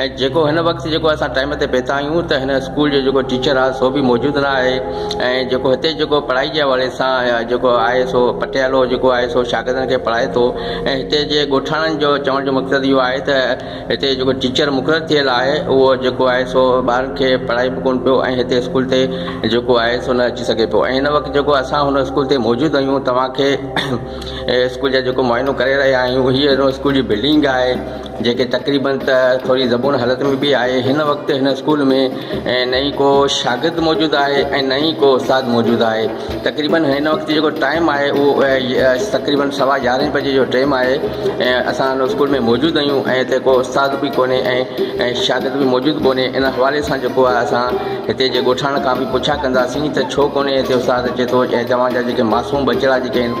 ۽ جيڪو هن وقت جيڪو اسان ٽائيم تي پهتا آهيون ته هن اسڪول جو جيڪو ٽيچر آهي سو به موجود نه آهي ۽ جيڪو هتي جيڪو پڙهائي جي حوالي سان جيڪو آهي سو پٽيالو جيڪو آهي سو شاگردن کي پڙهائي ٿو ۽ هتي جي ڳوٺاڻن جو چوڻ جو مقصد اهو آهي ته هتي جيڪو ٽيچر مقرر ٿيل آهي اهو جيڪو آهي سو ٻارن کي پڙهائي به ڪونه پيو ۽ هتي اسڪول تي جيڪو آهي سو نه اچي سگهي پيو ۽ هن وقت جيڪو اسان هن اسڪول تي موجود آهيون توهان کي اسڪول جا جيڪو معائنو ڪري رهيا آهيون هي اسڪول جي بلڊنگ آهي جيڪي تقريبن ته ٿوري زبون حالت ۾ به آهي هن وقت هن اسڪول ۾ نه ئي ڪو شاگرد موجود آهي ۽ نه ئي ڪو استاد موجود آهي تقريبن هن وقت جيڪو ٽائيم آهي اهو تقريبن سوا يارهن بجي جو ٽائيم آهي اسان هن اسڪول ۾ موجود آهيون ۽ هتي ڪو استاد به ڪونهي ۽ شاگرد به موجود ڪونهي ان حوالي سان جيڪو آهي اسان هتي جي ڳوٺاڻن کان به پڇا ڪنداسين ته ڇو ڪونهي هتي استاد اچي ٿو ۽ توهان جا جيڪي معصوم ٻچڙا جيڪي آهن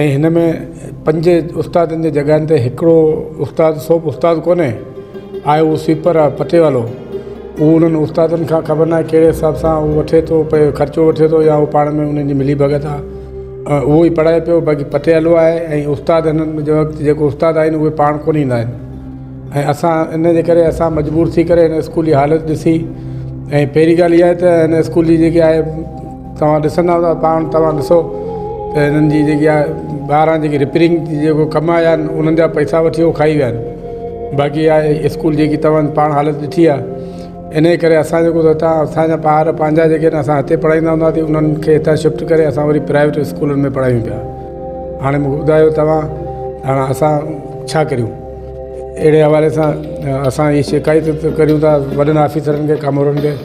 ۽ هن ۾ پنج استادن جي جڳهن تي هڪڙو استاد سو به استاد ڪونهي آهي اهو سويپر آهي پٽي والو اهو انهن استادن کان خبر ناهي ڪهڙي حساب سان اهو وٺي ٿو پئي خرچو وٺي ٿو يا پاڻ ۾ انهن جي ملي ڀڳت آهي ۽ اهو ئي پڙهائي پيو باقي پٽي والو آهي ۽ استاد هنن ۾ جو وقت جيڪو استاد آهن اهي پاڻ ڪونهي ايندا آهن ۽ اسان ان جي ڪري اسان مجبور ٿي ڪري هن اسڪول جي حالت ڏسي ۽ پهرين ڳالهه اها آهي ته هن اسڪول جي جيڪي آهي توهان ڏسندا ته پاڻ توهان ڏسو ته هنن جي جيڪي آهي ٻاهران جيڪي رپيرنگ جي جيڪو ڪم آيا آهن انهن جا پئسا وٺي هو کائي ويا آهن باقي آهي اسڪول جيڪي توهان پاڻ حالت ڏٺي آهي انهي ڪري اسان جيڪو ته هتان اسانجا ٻار پنهنجا جيڪي آهن اسان هتي پڙهائيندا هونداسين انهن کي هتان شفٽ ڪري اسان وري پرائيويٽ اسڪولن ۾ پڙهايون پيا هاڻي مون کي ٻڌايو توهان هاڻ اسان ڇا ڪريون اهڙي حوالي سان اسان هي شڪايتون ته ڪريون ٿا وڏن آفيسرن کي ڪامورن کي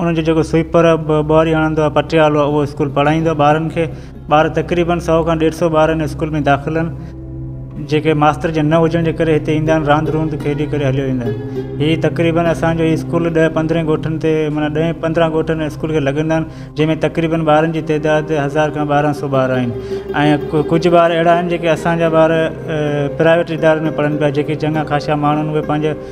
ان جو جيڪو سوئيپر ٻهاري هڻندو آهي پٽيالو اهو اسڪول پڙهائيندو آهي ٻارن کي ٻار تقريبن سؤ کان ڏيڍ سؤ ٻار ان اسڪول ۾ داخل آهن جيڪي ماستر جن نه هجڻ جي ڪري هتي ايندا آهن راند روند کيڏي ڪري هليو ويندا آهن هي تقريبن اسانجو هي اسڪول ڏهه پندرهن ڳوٺن تي معنيٰ ڏهين پندرهن ڳوٺن اسڪول کي لڳندا آهن جنهن ۾ تقريبن ٻارن جي تعداد هزار کان ٻارهن سؤ ٻار آهن ۽ ڪجهه ٻار اهڙا آهن جيڪي اسانجا ٻار پرائيويٽ ادارن ۾ پڙهن پيا جيڪي چڱا خاشا ماڻهو آهن اهي پنهنجا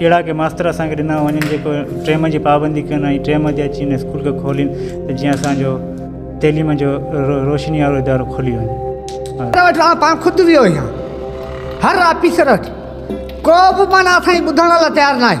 اهڙا ڪي ماستر اسان کي ڏنا وڃن جيڪو ٽيم جي پابندي ڪن ۽ ٽيم تي اچي هن اسڪول کي کولين ته جيئن اسانجو تعليم جو روشني وارو ادارو کلي وڃي. آء پاڻ خود ويو آهيان هر آفيسر وٽ ڪو به معنيٰ اسان جي ٻڌڻ لاء تيار ناهي.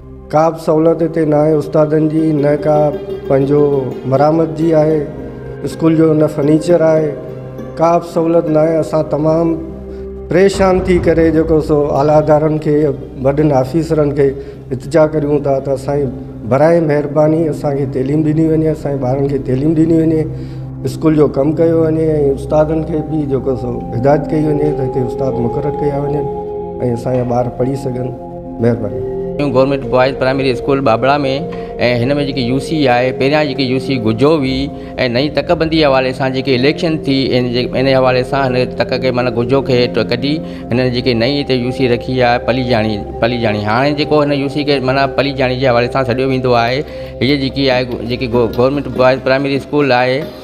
ڪا به سهولت هتي نه آهي استادن جي نه ڪا پنهنجو مرامت جي آهي اسڪول جو نه فرنيچر آهي ڪا به سهولت نه آهي اسان تمام پريشان ٿي ڪري جيڪو سو اعليٰ ادارن کي وڏن آفيسرن کي التجا ڪريون ٿا ته سائين براء مهرباني اسانکي تعليم ڏني وڃي اسانجي ٻارن کي تعليم ڏني وڃي اسڪول جو ڪم ڪيو وڃي ۽ استادن کي به جيڪو سو هدايت ڪئي وڃي ته هتي استاد مقرر ڪيا وڃن ۽ اسانجا ٻار پڙهي سگهن مهرباني. New government boys primary school ٻاٻڙا ۾ ۽ هن ۾ جيڪي يو سي آهي پهريان جيڪي يو سي گجو هئي ۽ نئين تڪ بندي حوالي سان جيڪي اليڪشن ٿي ان جي ان جي حوالي سان هن تڪ کي معنيٰ گجو کي ڪڍي هنن جيڪي نئين هتي يو سي رکي آهي پليجاڻي پليجاڻي هاڻي جيڪو هن يو سي کي معنيٰ پليجاڻي جي حوالي سان سڏيو ويندو آهي هيء جيڪي آهي جيڪي گورنمينٽ بوائز پرائمري اسڪول آهي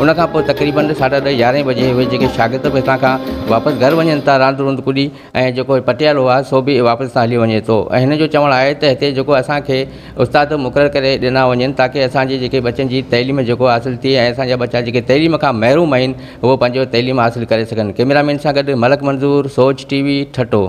ان کان پوء تقريبن ساڍا ڏهه يارهين بجي اهي جيڪي شاگرد به هتان کان واپس گهر وڃن ٿا راند روند ڪڏي ۽ جيڪو پٽيالو آهي سو به واپس هتان هليو وڃي ٿو ۽ هن جو چوڻ آهي ته هتي جيڪو اسان کي استاد مقرر ڪري ڏنا وڃن تاڪه اسان جي جيڪي ٻچن جي تعليم جيڪو حاصل ٿئي ۽ اسان جا ٻچا جيڪي تعليم کان محروم آهن هو پنهنجو تعليم حاصل ڪري سگهن ڪئميرا مين سان گڏ ملڪ منظور سوچ ٽي وي ٺٽو